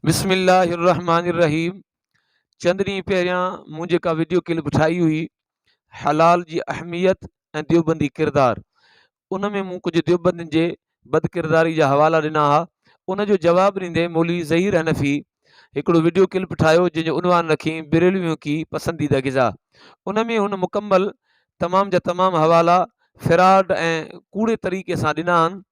بسم الله الرحمٰن الرحيم چند ڏينهن پهريان مون جيڪا ويڊيو ڪلپ ٺاهي هئي حلال جي اهميت ۽ ديوبندي ڪردار ان ۾ مون ڪجهه ديوبندين جي بد ڪرداري جا حوالا ڏنا ها ان جو جواب ڏيندي مولي ظهير حنفي هڪڙو ويڊيو ڪلپ ٺاهيو جنهن جو عنوان رکين بريلويون ڪي پسنديده غذا ان ۾ هن مڪمل تمام جا تمام حوالا فراڊ ۽ ڪوڙي طريقي سان ڏنا آهن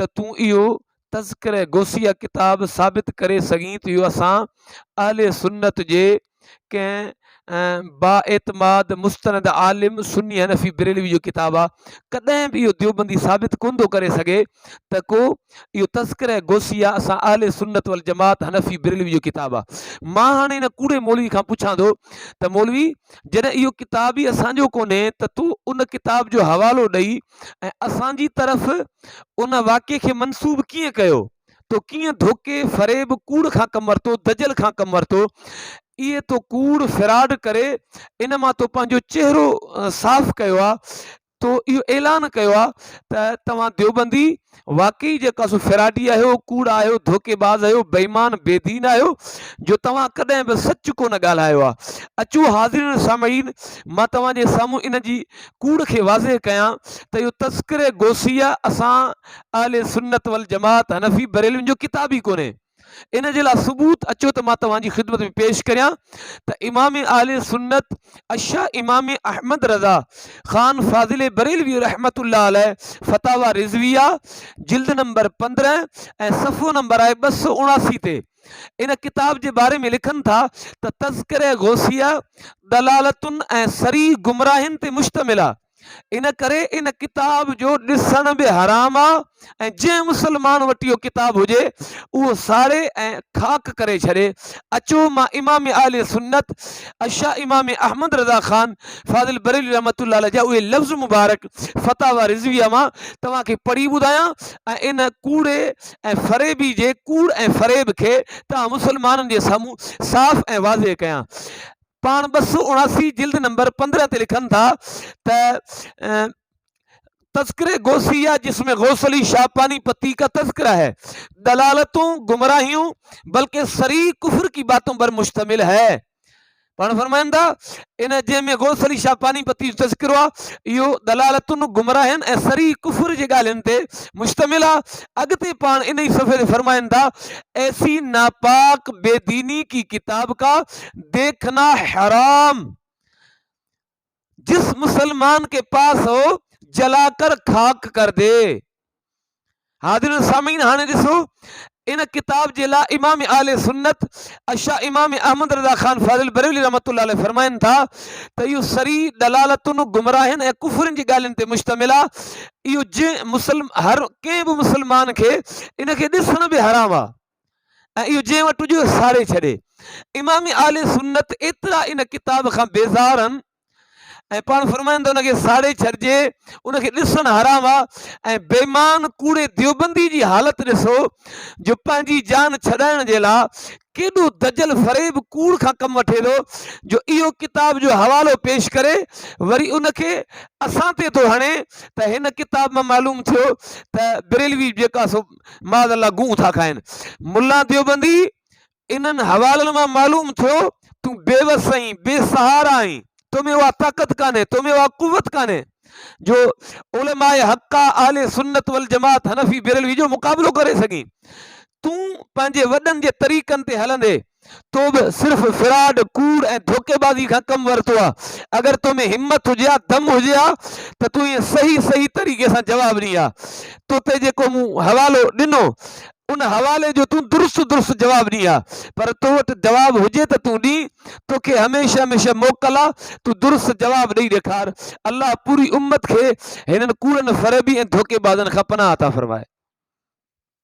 ته تون اهو تذڪره غوثيه ڪتاب ثابت ڪري سگهين ته اهو اسان اهل سنت جي ڪنهن با اعتماد مستند عالم سني حنفي بريلوي جو ڪتاب آهي ڪڏهن به اهو ديوبندي ثابت ڪونه ٿو ڪري سگهي ته ڪو اهو تذڪره غوثيه اسان اهل سنت والجماعت حنفي بريلوي جو ڪتاب آهي مان هاڻي هن ڪوڙي مولوي کان پڇان ٿو ته مولوي جڏهن اهو ڪتاب ئي اسانجو ڪونهي ته تون ان ڪتاب جو حوالو ڏئي ۽ اسان جي طرف ان واقعي کي منسوب ڪيئن ڪيو؟ تو ڪيئن ڌوڪي، فريب، ڪوڙ کان ڪم ورتو، دجل کان ڪم ورتو؟ اهي تو ڪوڙ، فراڊ، ڪري ان مان تو پنهنجو چهرو صاف ڪيو آهي، تو اهو اعلان ڪيو آهي ته توهان ديوبندي واقعي جيڪو اسو فراڊي آهيو، ڪوڙ آهيو، ڌوڪي باز آهيو، بيمان، بي دين آهيو جو توهان ڪڏهن به سچ ڪونه ڳالهايو آ. اچو حاضرين ۽ سامعين مان توهان جي سامهون ان جي ڪوڙ کي واضح ڪيان ته اهو تذڪره غوثيه اسان اهل سنت والجماعت حنفي بريلوين جو ڪتاب ئي ڪونهي. ان جي لاء ثبوت اچو ته مان توهان جي خدمت ۾ پيش ڪريان ته امام اهل سنت الشا امام احمد رضا خان فاضل بريلوي رحمت الله عليه فتاوا رضويه جلد نمبر پندرهن ۽ صفحو نمبر آهي ٻه سؤ اڻاسي تي ان ڪتاب جي باري ۾ لکن ٿا ته تذڪره غوثيه دلالتن ۽ سري گمراهين تي مشتمل آهي ان ڪري ان ڪتاب جو ڏسڻ به حرام آ ۽ جنهن مسلمان وٽ اهو ڪتاب هجي اهو ساڙي ۽ خاڪ ڪري ڇڏي اچو مان امام اهل سنت اشا امام احمد رضا خان فاضل بریلي رحمت الله علیه جا اهي لفظ مبارڪ فتاوا رضويه مان توهان کي پڙهي ٻڌايان ۽ ان ڪوڙي ۽ فريبي جي ڪوڙ ۽ فريب کي توهان مسلمانن جي سامهون صاف ۽ واضح ڪيان پاڻ ٻه سؤ اڻاسي جلد نمبر پندرهن تي لکن ٿا ته تذڪري غوثي يا جس ۾ غوث علي شاھ پاني پتي ڪا تذڪره هي دلالتون گمراهيون بلڪه سري ڪفر ڪي باتون بر مشتمل هي پاڻ فرمائن ٿا ان جي ۾ غوث علي شاھ پاني پتي جو تذڪرو آ اهو دلالتون گمراهين ۽ سري ڪفر جي ڳالهين تي مشتمل آ اڳتي پاڻ ان ئي صفحي تي فرمائن ٿا ايسي ناپاڪ بي ديني ڪي ڪتاب ڪا دیکھنا حرام جس مسلمان کے پاس ہو جلا کر خاڪ کر دي حاضرين سامعين هاڻي ڏسو ان ڪتاب جي لا امام آل سنت اشا امام احمد رضا خان فاضل بریلي رحمت الله علیه فرمائن ٿا ته اهو سري دلالتن گمراهين ۽ ڪفرن جي ڳالهين تي مشتمل آهي اهو جنهن مسلم هر ڪنهن به مسلمان کي ان کي ڏسڻ به حرام آهي ۽ اهو جنهن وٽ هجي ساڙي ڇڏي. امام اهل سنت ايترا ان ڪتاب کان بيزار هن ۽ پاڻ فرمائن ته ان کي ساڙي ڇڏجي ان کي ڏسڻ حرام آ ۽ بيمان ڪوڙي ديوبندي جي حالت ڏسو جو پنهنجي جان ڇڏائڻ جي لا ڪيڏو دجل فريب ڪوڙ کان ڪم وٺي ٿو جو اهو ڪتاب جو حوالو پيش ڪري وري ان کي اسان تي ٿو هڻي ته هن ڪتاب مان معلوم ٿيو ته بريلوي جيڪا سو معاذ الله گون ٿا کائن. ملا ديوبندي انهن حوالن مان معلوم ٿيو تون بي وس آهين، بي سهارا آهين، تو ۾ اها طاقت ڪانهي، تو ۾ اها قوت ڪانهي جو علماء حقا، اهل سنت والجماعت، حنفي بيرلوي جو مقابلو ڪري سگهين. تون پنهنجي وڏن جي طريقن تي هلندي تو به صرف فراڊ، ڪوڙ ۽ ڌوڪيبازي کان ڪم ورتو آ. اگر تو ۾ همت هجي ها، دم هجي ها ته تون ائين صحيح صحيح طريقي سان جواب ڏئين ها. تو تي جيڪو مون حوالو ڏنو ان حوالي جو تون درست درست جواب ڏئين ها. پر تو وٽ جواب هجي ته تون ڏئين. توکي هميشه هميشه موڪل آ تون درست جواب ڏئي ڏيکار. الله پوري امت کي هنن ڪوڙن فريبي ۽ ڌوڪيبازن کان پناهه عطا فرمائي.